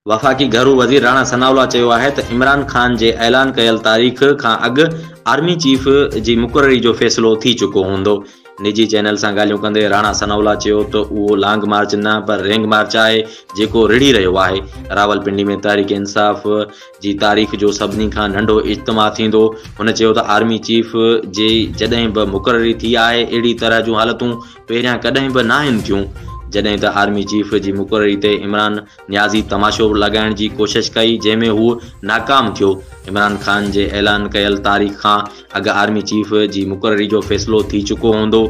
وفاقي گهرو وزير راڻا ثناء الله چيو آهي ته عمران خان جي اعلان ڪيل تاريخ کان اڳ آرمي چيف جي مقرري جو فيصلو ٿي چڪو هوندو. نجي چينل سان ڳالهيون ڪندي راڻا ثناء الله چيو ته اهو لانگ مارچ نه پر رينگ مارچ آهي جيڪو رڙهي رهيو آهي. راولپنڊي ۾ تحريڪ انصاف جي تاريخ جو سڀني کان ننڍو اجتماع ٿيندو. هن چيو ته آرمي چيف جي جڏهن به مقرري ٿي آهي اهڙي طرح جون حالتون پهريان ڪڏهن به ناهن ٿيون جڏهن ته آرمي چيف جي مقرري تي عمران نيازي تماشو لڳائڻ جي ڪوشش ڪئي جنهن ۾ هو ناڪام ٿيو. عمران خان جي اعلان ڪيل تاريخ کان اڳ آرمي چيف جي مقرري جو فيصلو ٿي چڪو هوندو.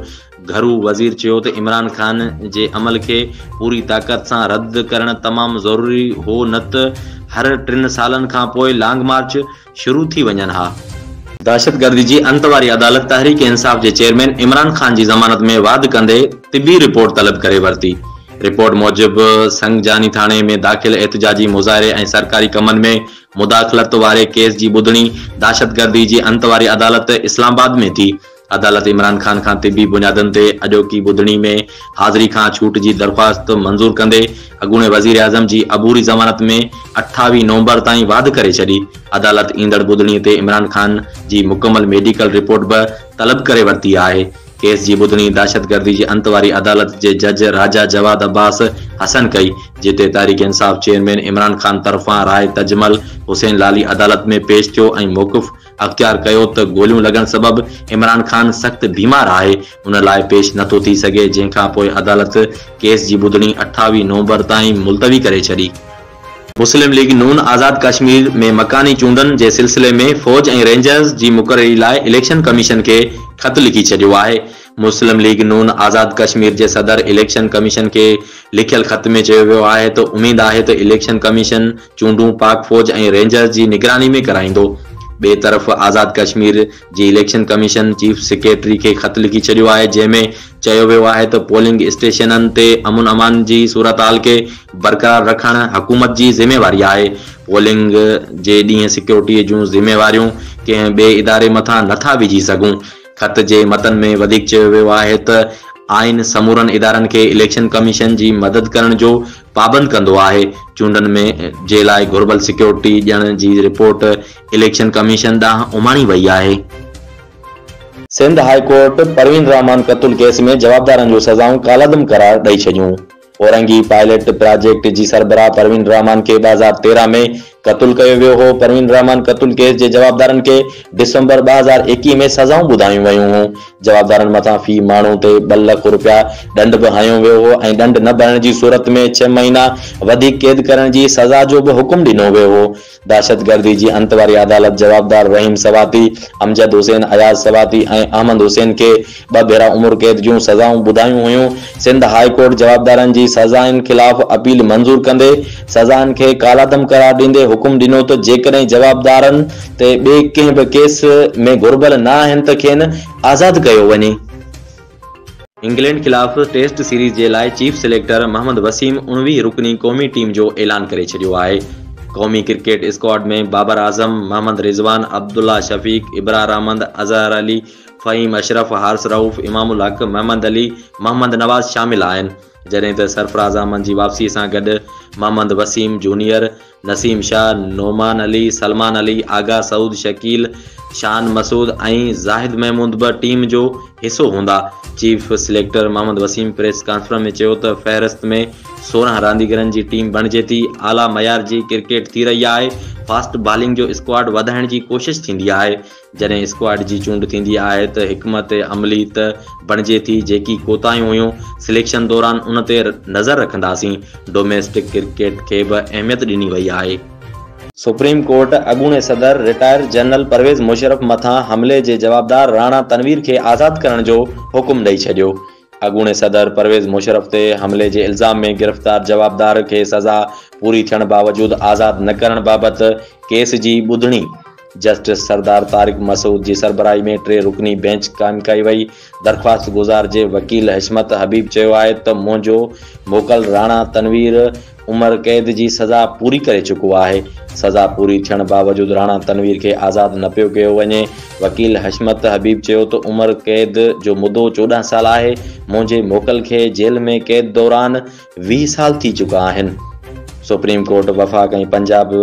گهرو وزير چيو ته عمران خان جي عمل کي پوري طاقت سان رد ڪرڻ تمام ضروري هو نه ته هر ٽن سالن کان پوء لانگ مارچ شروع ٿي وڃن ها. دهشتگردي جي انت واري عدالت تحريڪ انصاف جي چيئرمين عمران خان جي ضمانت ۾ واڌ ڪندي طبي رپورٽ طلب ڪري ورتي. رپورٽ موجب سنگجاني ٿاڻي ۾ داخل احتجاجي مظاهري ۽ سرڪاري ڪمن ۾ مداخلت واري ڪيس جي ٻڌڻي دهشتگردي جي انت واري عدالت اسلام آباد ۾ ٿي. عدالت عمران خان کان طبي بنيادن تي اڄوڪي ٻڌڻي ۾ حاضري کان ڇوٽ جي درخواست منظور ڪندي اڳوڻي وزيراعظم جي عبوري ضمانت ۾ اٺاويهه نومبر تائين واڌ ڪري ڇڏي. عدالت ايندڙ ٻڌڻي تي عمران خان جي مڪمل ميڊيڪل رپورٽ به طلب ڪري ورتي آهي. ڪيس جي ٻڌڻي دهشتگردي جي انت واري عدالت جي جج راجا جواد عباس حسن ڪئي، جتي تحريڪ انصاف چيئرمين عمران خان طرفان راء تجمل حسين لالي عدالت ۾ پيش ٿيو ۽ موقف اختيار ڪيو ته گوليون لڳڻ سبب عمران خان سخت بيمار آهي ان لاء پيش نه ٿو ٿي سگهي جنهن کان پوء عدالت ڪيس جي ٻڌڻي اٺاويهه نومبر تائين ملتوي ڪري ڇڏي. مسلم ليگ نون آزاد ڪشمير ۾ مڪاني چونڊن جي سلسلي ۾ فوج ۽ رينجرز جي مقرري لاء اليڪشن ڪميشن کي خط لکي ڇڏيو آهي مسلم ليگ نون آزاد ڪشمير جي صدر اليڪشن ڪميشن کي لکيل خط ۾ چيو ويو آهي ته اميد آهي ته اليڪشن ڪميشن چونڊون پاڪ فوج ۽ رينجرز جي نگراني ۾ ڪرائيندو. ٻئي طرف آزاد ڪشمير جي اليڪشن ڪميشن چيف سيڪريٽري کي خط لکي ڇڏيو آهي جنهن ۾ چيو ويو آهي ته پولنگ اسٽيشنن تي امن امان جي صورتحال کي برقرار رکڻ حڪومت جي ذميواري آهي پولنگ جي ڏينهن سيڪيورٽي جون ذميواريون ڪنهن ٻئي اداري مٿان نه ٿا وجهي سگهون خط جي متن ۾ وڌيڪ چيو ويو آهي ته آئين سمورن ادارن کي اليڪشن ڪميشن جي مدد ڪرڻ جو پابند ڪندو آهي، چونڊن ۾ جي لاء گهربل سيڪيورٽي ڏيڻ جي رپورٽ اليڪشن ڪميشن ڏانهن اماڻي وئي آهي. سنڌ هاء ڪورٽ پروين الرحمان قتل ڪيس ۾ جوابدارن جون سزائون ڪالعدم قرار ڏئي ڇڏيون. اورنگي پائلٽ پراجيڪٽ جي سربراهه پروين الرحمان کي ٻه هزار تيرهن ۾ قتل ڪيو ويو هو، پروين الرحمان قتل ڪيس جي جوابدارن کي ڊسمبر ٻه هزار ايڪيهه ۾ سزائون ٻڌايون ويون هيون، جوابدارن مٿان في ماڻهو تي ٻه لک رپيا ڏنڊ به هنيو ويو هو ۽ ڏنڊ نه ڀرڻ جي صورت ۾ ڇهه مهينا وڌيڪ قيد ڪرڻ جي سزا جو به حڪم ڏنو ويو هو، دهشتگردي جي انت واري عدالت جوابدار رحيم سواتي، امجد حسين، اياز سواتي ۽ احمد حسين کي ٻه ڀيرا عمر قيد جون سزائون ٻڌايون هيون، سنڌ هاء ڪورٽ جوابدارن جي سزائن خلاف اپيل منظور ڪندي سزائن کي ڪالعدم قرار ڏيندي حڪم ڏنو ته جيڪڏهن جوابدارن تي ٻئي ڪنهن به ڪيس ۾ گهربل نه آهن ته کين آزاد ڪيو وڃي. انگلينڊ خلاف ٽيسٽ سيريز جي لاء چيف سليڪٽر محمد وسيم اڻويهه رڪني قومي ٽيم جو اعلان ڪري ڇڏيو آهي، قومي ڪرڪيٽ اسڪواڊ ۾ بابر اعظم، محمد رضوان، عبدالله شفيق، ابرار احمد، اظهر علي، فهيم اشرف، حارث رئوف، امام الحق، محمد علي، محمد نواز شامل آهن، جڏهن ته سرفراز احمد جي واپسي سان گڏ محمد وسيم جونيئر، نسيم شاهه، نعمان علي، سلمان علي، آغا سعود، شڪيل، شان مسعود ۽ زاهد محمود به ٽيم جو حصو هوندا. Chief selector Muhammad Wasim press conference ۾ چيو ته فهرست ۾ سورهن رانديگرن جي ٽيم بڻجي ٿي، اعليٰ معيار جي ڪرڪيٽ ٿي رهي آهي، فاسٽ بالنگ جو اسڪواڊ وڌائڻ جي ڪوشش ٿيندي آهي، جڏهن اسڪواڊ جي چونڊ ٿيندي آهي ته حڪمت عملي ته بڻجي ٿي، جيڪي ڪوتاهيون هيون سليڪشن دوران ان تي نظر رکنداسين، ڊوميسٽڪ ڪرڪيٽ کي به اهميت ڏني وئي آهي. سپريم ڪورٽ اڳوڻي صدر رٽائر جنرل پرويز مشرف مٿان حملي جي جوابدار راڻا تنوير کي آزاد ڪرڻ جو حڪم ڏئي ڇڏيو. اڳوڻي صدر پرويز مشرف تي حملي جي الزام ۾ گرفتار جوابدار کي سزا پوري ٿيڻ باوجود آزاد نه ڪرڻ بابت ڪيس جي ٻڌڻي جسٽس سردار طارق مسعود جي سربراهي ۾ ٽي رڪني بينچ قائم ڪئي وئي. درخواستگذار جي وڪيل حشمت حبيب چيو آهي ته منهنجو موڪل راڻا تنوير عمر قيد جي سزا پوري ڪري چڪو آهي، سزا پوري ٿيڻ باوجود راڻا تنوير کي آزاد نه پيو ڪيو وڃي، وڪيل حشمت حبيب چيو ته عمر قيد جو مدو چوڏهن سال آهي، منهنجي موڪل کي جيل ۾ قيد دوران ويهه سال ٿي چڪا آهن، سپريم ڪورٽ وفاق ۽ پنجاب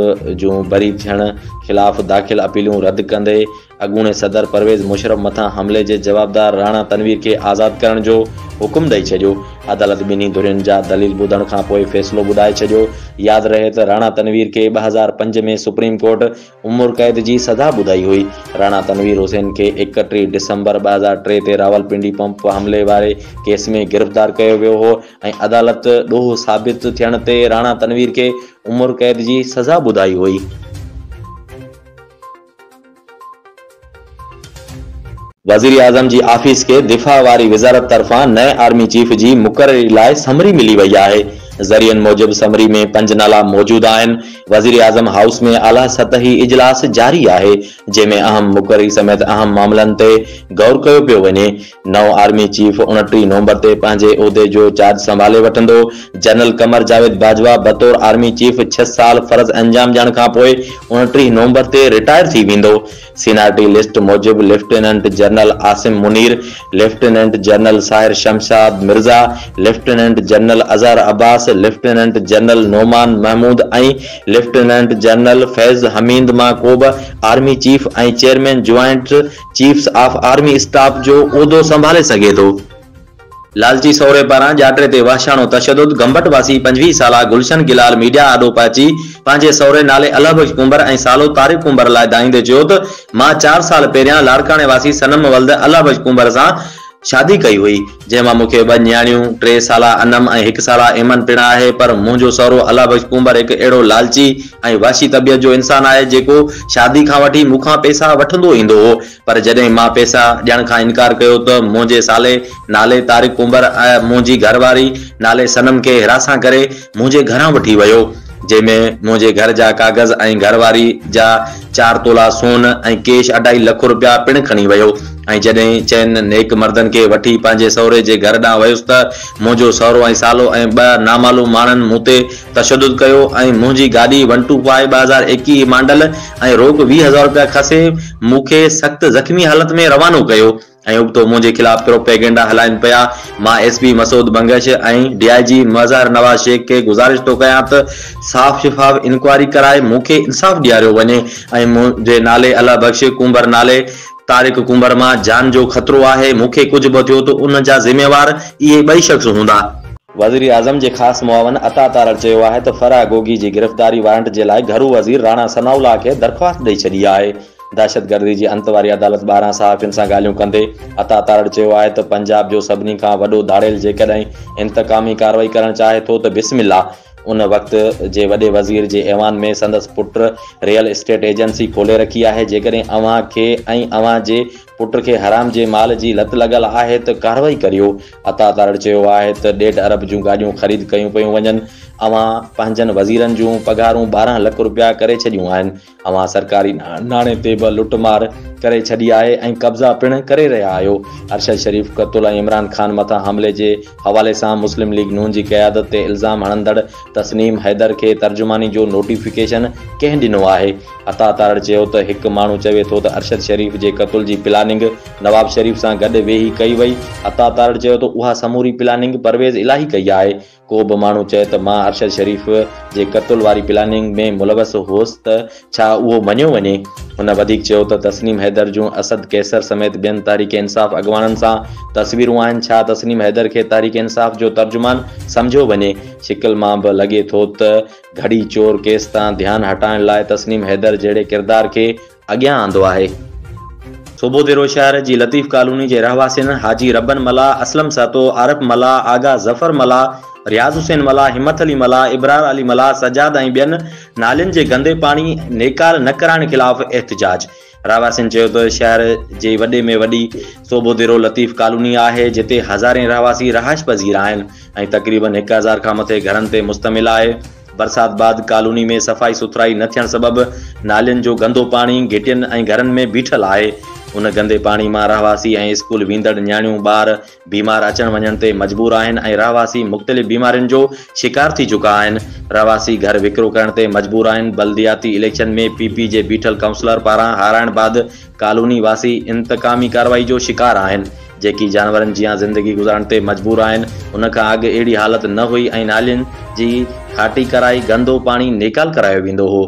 جون بري ٿيڻ خلاف داخل اپيلون رد ڪندي اڳوڻي صدر پرويز مشرف مٿان حملي جي جوابدار راڻا تنوير کي آزاد ڪرڻ جو حڪم ڏئي ڇڏيو، عدالت ٻنهي ڌرين جا دليل ٻڌڻ کان پوء فيصلو ٻڌائي ڇڏيو، ياد رهي ته راڻا تنوير کي ٻه هزار پنج ۾ سپريم ڪورٽ عمر قيد جي سزا ٻڌائي هئي، راڻا تنوير حسين کي ايڪٽيهه ڊسمبر ٻه هزار ٽي تي راولپنڊي پمپ حملي واري ڪيس ۾ گرفتار ڪيو ويو هو ۽ عدالت ڏوهه ثابت ٿيڻ تي راڻا تنوير کي عمر قيد جي سزا ٻڌائي هئي. وزيراعظم جي آفيس کي دفاع واري وزارت طرفان نئين آرمي چيف جي مقرري لاء سمري ملي وئي آهي، ذريعن موجب سمري ۾ پنج نالا موجود آهن، وزيراعظم هائوس ۾ اعليٰ سطحي اجلاس جاري آهي، جنهن ۾ اهم مقرري سميت اهم معاملن تي غور ڪيو پيو وڃي، نئون آرمي چيف اڻٽيهه نومبر تي پنهنجي عهدي جو چارج سنڀالي وٺندو. جنرل قمر جاويد باجوا بطور آرمي چيف ڇهه سال فرض انجام ڏيڻ کانپوء اڻٽيهه نومبر تي رٽائر ٿي ويندو. سينارٽي لسٽ موجب lieutenant general Asim Munir, lieutenant general Sahir Shamshad Mirza, lieutenant general Azhar Abbas, lieutenant general Nauman Mahmood ۽ lieutenant general Faiz Hameed مان ڪوبه army chief ۽ chairman joint chiefs of army staff جو عهدو سنڀالي سگهي ٿو. لالچي سهري پاران ڄاٽري تي وحشاڻو تشدد، گمبٽ واسي پنجويهه سالا گلشن گلال ميڊيا آڏو پهچي پنهنجي سهري نالي الله بخش ڪنڀر ۽ سالو طارق ڪنڀر لاء دانهيندي چيو ته مان چار سال پهريان لاڙڪاڻي واسي صنم ولد الله بخش ڪنڀر سان شادي ڪئي هئي، جنهن مان مون کي ٻه نياڻيون، ٽي سالا انعم ۽ هڪ سالا ايمن پڻ آهي، پر منهنجو سهرو الله بخش ڪونڀر هڪ اهڙو لالچي ۽ وحشي طبيعت جو انسان آهي، جيڪو شادي کان وٺي مون کان پئسا وٺندو ايندو هو، پر جڏهن مان پئسا ڏيڻ کان انڪار ڪيو ته منهنجي سالي نالي طارق ڪونڀر ۽ منهنجي گهر واري نالي صنم کي حراسان ڪري، منهنجي گهران وٺي ويو، جنهن ۾ منهنجي گهر جا ڪاغذ ۽ گهر واري جا چار تولا سون ۽ ڪيش اڍائي لک روپيا پڻ کڻي ويو ۽ جڏهن چئن نيڪ مردن کي وٺي پنهنجي سهري جي گهر ڏانهن ويس ته منهنجو سهرو ۽ سالو ۽ ٻه نامعلوم ماڻهن مون تي تشدد ڪيو ۽ منهنجي گاڏي ون ٽو فائيو ٻه هزار ايڪيهه مانڊل ۽ روڪ ويهه هزار روپيا کسي مون کي سخت زخمي حالت ۾ روانو ڪيو. ۽ ابتو منهنجي خلاف پروپيگنڊا هلائين پيا، مان S P Masood Bangash ۽ D I G Mazhar Nawaz Shaikh کي گذارش ٿو ڪيان ته صاف شفاف انڪوائري ڪرائي مون کي انصاف ڏياريو وڃي ۽ منهنجي نالي الله بخش ڪنڀر نالي طارق ڪنڀر مان جان جو خطرو آهي، مون کي ڪجهه به ٿيو ته ان جا ذميوار اهي ٻئي شخص هوندا. وزيراعظم جي خاص معاون عطا تارڙ چيو آهي ته فرح گوگي جي گرفتاري وارنٽ جي لاء گهرو وزير راڻا ثناء الله کي درخواست ڏئي ڇڏي آهي، دهشتگردي جي انت واري عدالت ٻاهران صحافين سان ڳالهيون ڪندي عطا تارڙ چيو آهي ته پنجاب جو سڀني کان وڏو ڌاڙيل جيڪڏهن انتقامي ڪارروائي ڪرڻ چاهي ٿو ته بسم الله ان وقت جي وڏي وزير جي ايوان ۾ سندس پٽ ريئل اسٽيٽ ايجنسي کولي رکي آهي جيڪڏهن اوهان کي ۽ اوهان جي پٽ کي حرام جي مال جي لت لڳل آهي ته ڪارروائي ڪريو عطا تارڙ چيو آهي ته ڏيڍ ارب جون گاڏيون خريد ڪيون پيون وڃن اوهان پنهنجن وزيرن جون پگهارون ٻارهن لک روپيا ڪري ڇڏيون آهن اوهان سرڪاري ناڻي تي به لٽ مار ڪري ڇڏي آهي ۽ قبضا پڻ ڪري رهيا آهيو، ارشد شريف قتل ۽ عمران خان مٿان حملي جي حوالي سان مسلم ليگ نون جي قيادت تي الزام هڻندڙ تسنيم حيدر کي ترجماني جو نوٽيفڪيشن ڪنهن ڏنو آهي؟ عطا تارڙ چيو ته هڪ ماڻهو چوي ٿو ته ارشد شريف جي قتل جي پلاننگ نواب شريف سان گڏ ويهي ڪئي وئي، عطا تارڙ چيو ته اها سموري پلاننگ پرويز الاهي ڪئي آهي، ڪو به ماڻهو چئي ته مان ارشد شريف جي قتل واري پلاننگ ۾ ملوث هوس ته ڇا اهو مڃيو وڃي؟ هن وڌيڪ چيو ته تسنيم حيدر جون اسد قيصر سميت ٻين تحريڪ انصاف اڳواڻن سان تصويرون آهن، ڇا تسنيم حيدر کي تحريڪ انصاف جو ترجمان سمجهيو وڃي؟ شڪل مان به لڳي ٿو ته گهڙي چور ڪيس تان ڌيان هٽائڻ لاء تسنيم حيدر جهڙي ڪردار کي اڳيان آندو آهي. صوبو ديرو شهر جي لطيف ڪالوني جي رهواسين حاجي ربن ملاح، اسلم سهتو، عارف ملاح، آغا ظفر ملاح، رياض حسين ملاح، همٿ علي ملاح، ابرار علي ملاح، سجاد ۽ ٻين نالين جي گندي پاڻي نيڪال نه ڪرائڻ خلاف احتجاج. رهواسين چيو ته شهر جي وڏي ۾ وڏي صوبو ديرو لطيف ڪالوني آهي جتي هزارين رهواسي رهائش پذير آهن ۽ تقريبن هڪ هزار کان مٿي گهرن تي مشتمل آهي. برسات بعد ڪالوني ۾ صفائي سٿرائي نه ٿيڻ سبب نالين جو گندو پاڻي گهٽين ۽ گهرن ۾ بيٺل آهي، ان گندي پاڻي مان رهواسي ۽ اسڪول ويندڙ نياڻيون ٻار بيمار اچڻ وڃڻ تي مجبور آهن ۽ رهواسي مختلف بيمارين جو شڪار ٿي چڪا آهن، رهواسي گهر وڪرو ڪرڻ تي مجبور آهن، بلدياتي اليڪشن ۾ پي پي جي بيٺل ڪائونسلر پاران هارائڻ بعد ڪالوني واسي انتقامي ڪارروائي جو شڪار آهن، جيڪي جانورن جيان زندگي گذارڻ تي مجبور آهن، ان کان اڳ اهڙي حالت نه هئي ۽ نالين جي کاٽي ڪرائي گندو پاڻي نيڪال ڪرايو ويندو هو،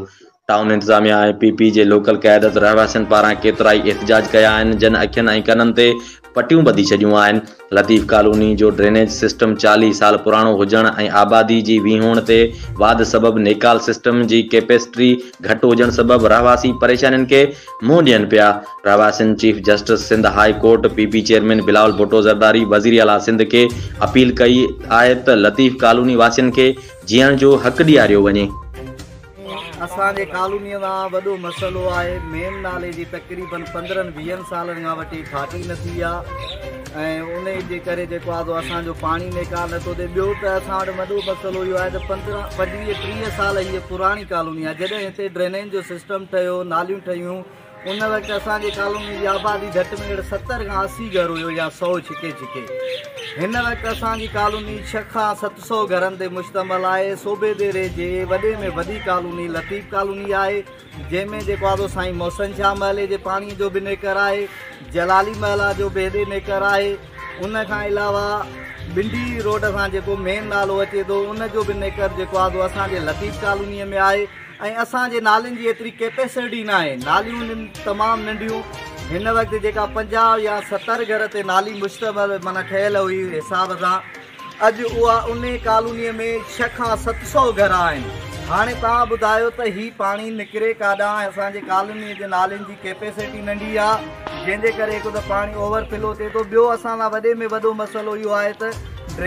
ٽائون انتظاميا ۽ پي پي جي لوڪل قيادت رهواسين پاران ڪيترائي احتجاج ڪيا آهن، جن اکين ۽ ڪنن تي پٽيون ٻڌي ڇڏيون آهن. لطيف ڪالوني جو ڊرينيج سسٽم چاليهه سال پراڻو هجڻ ۽ آبادي جي ويهوڻ تي واڌ سبب نيڪال سسٽم جي ڪيپيسٽري گهٽ هجڻ سبب رهواسي پريشانين کي منهن ڏين پيا. رهواسين chief justice Sindh high court, P P chairman Bilawal Bhutto Zardari, وزير اعليٰ سنڌ کي اپيل ڪئي آهي ته لطيف ڪالوني واسين کي جيئڻ جو حق ڏياريو وڃي. اسان جي ڪالونيء مان وڏو مسئلو آهي مين نالي جي تقريبن پندرهن ويهن سالن کان وٺي ڦاٽي نه ٿي آ ۽ انهي جي ڪري جيڪو آ سو اسان جو پاڻي نيڪال نه ٿو ٿئي ٻيو ته اسان وٽ وڏو مسئلو اهو آهي ته پندرهن پنجويهه ٽيهه سال هيء پراڻي ڪالوني آ جڏهن هتي ڊرينيج جو سسٽم ٺهيو ناليون ٺهيون ان وقت اسان جي ڪالوني جي آبادي گهٽ ۾ گهٽ ستر کان اسي گهر هيو يا سو ڇڪي ڇڪي. هن وقت اسان جي ڪالوني ڇهه کان ست سو گهرن تي مشتمل آهي. صوبي ديري جي وڏي ۾ وڏي ڪالوني لطيف ڪالوني آهي، جنهن ۾ جيڪو آدو سائين محسن شاهه محلي جي پاڻي جو به نيڪر آهي، جلالي محلا جو به هيڏي نيڪر آهي، ان کان علاوه بنڊي روڊ سان جيڪو مين نالو اچي ٿو ان جو به نيڪر جيڪو آدو اسان جي لطيف ڪالوني ۾ آهي. ۽ اسان جي نالين جي ايتري ڪيپيسرٽ ئي ناهي ناليون هن تمام ننڍيون هن وقت جيڪا پنجاهه يا ستر گهر تي نالي مشتمل معنيٰ ٺهيل هئي حساب سان اڄ اها انهي ڪالونيء ۾ ڇهه کان ست سو گهر آهن هاڻي توهان ٻڌايو ته هي پاڻي نڪري ڪاڏانهن ۽ اسان جي ڪالونيء جي نالين جي ڪيپيسرٽ ئي ننڍي آهي جنهن جي ڪري هڪ ته پاڻي اوور فلو ٿئي ٿو ٻيو اسان لاء وڏي ۾ وڏو مسئلو اهو آهي ته